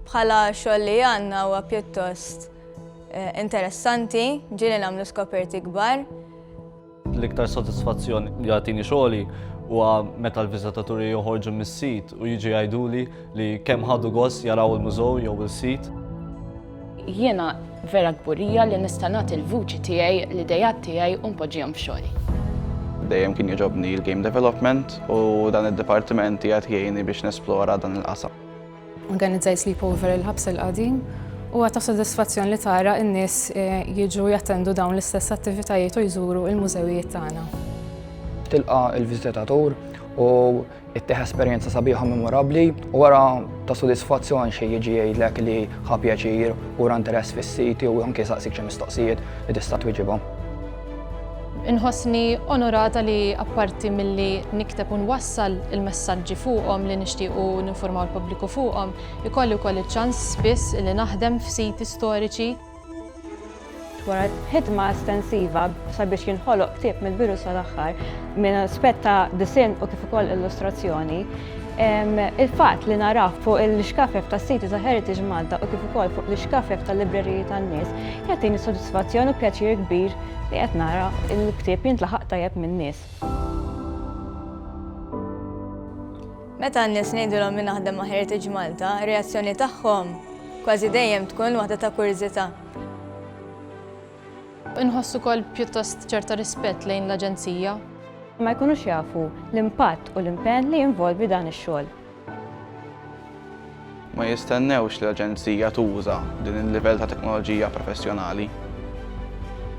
Bħala xogħol li għandna huwa pjuttost eh, interessanti, ġieli nagħmlu skoperti kbar. L-iktar sodisfazzjon li għatini xogħli huwa meta l-viżitaturi joħorġu mis-sit u jiġi jgħiduli li kemm ħadu gost jaraw il-mużew jew il-sit. Jiena vera kburija li nista' nagħti l-vuċi tiegħi, l-idejat tiegħi u npoġġihom f'xogħli. Dejjem kien jogħġobni l-game development u dan id-dipartiment qiegħed jgħinni biex nesplora dan il-qasam. Organizzajt sleepover il-ħabs il-qadim u għata sodisfazzjon li tara n-nies eh, jiġu jattendu dawn l-istess attivitajiet u jżuru il-mużewijiet tagħna. Tilqa il-viżitatur u Ittieħ esperjenza sabiħa u memorabbli u wara ta' sodisfazzjon xi jiġi jgħidlek li ħa pjaċir u ra interess fis-siti u anke jsaqsik xi mistoqsijiet li tista' twieġibhom. Inħossni onorata li apparti milli nikteb u nwassal il-messaġġi fuqhom li nixtiequ ninfurmaw il-pubbliku fuqhom, ikolli wkoll iċ-ċans spiss li naħdem f'siti storiċi, Wara ħidma estensiva sabiex jinħoloq ktieb mill-bidu sal-aħħar minn aspett ta' disinn u kif ukoll illustrazzjoni, il-fatt li narah fuq l-ixkafef tas-siti ta' Heritage Malta u kif ukoll fuq l-ixkafef tal-libreriji tan-nies jagħtini sodisfazzjon u pjaċir kbir li qed nara l-ktieb jintlaħaq tajjeb min-nies. Meta n-nies ngħidulhom li naħdem ma' Heritage Malta, ir-reazzjoni tagħhom kważi dejjem tkun waħda ta' kurżità. Inħoss ukoll pjuttost ċerta rispett lejn l-Aġenzija. Ma jkunux jafu l-impatt u l-impenn li jinvolvi dan ix-xogħol. Ma jistennewx li l-Aġenzija tuża din il-livell ta' teknoloġija professjonali.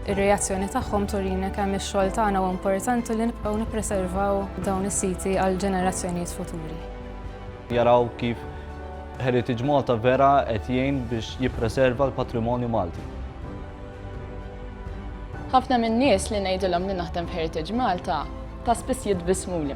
Ir-reazzjoni tagħhom turina kemm ix-xogħol tagħna huwa importanti li nibqgħu nippreservaw dawn is-siti għal ġenerazzjonijiet futuri. Jaraw kif Heritage Malta vera qed jgħin biex jippreserva l-patrimonju Malti. Ħafna min-nies li ngħidilhom li naħdem f'Heritage Malta ta' spiss jitbissmuli.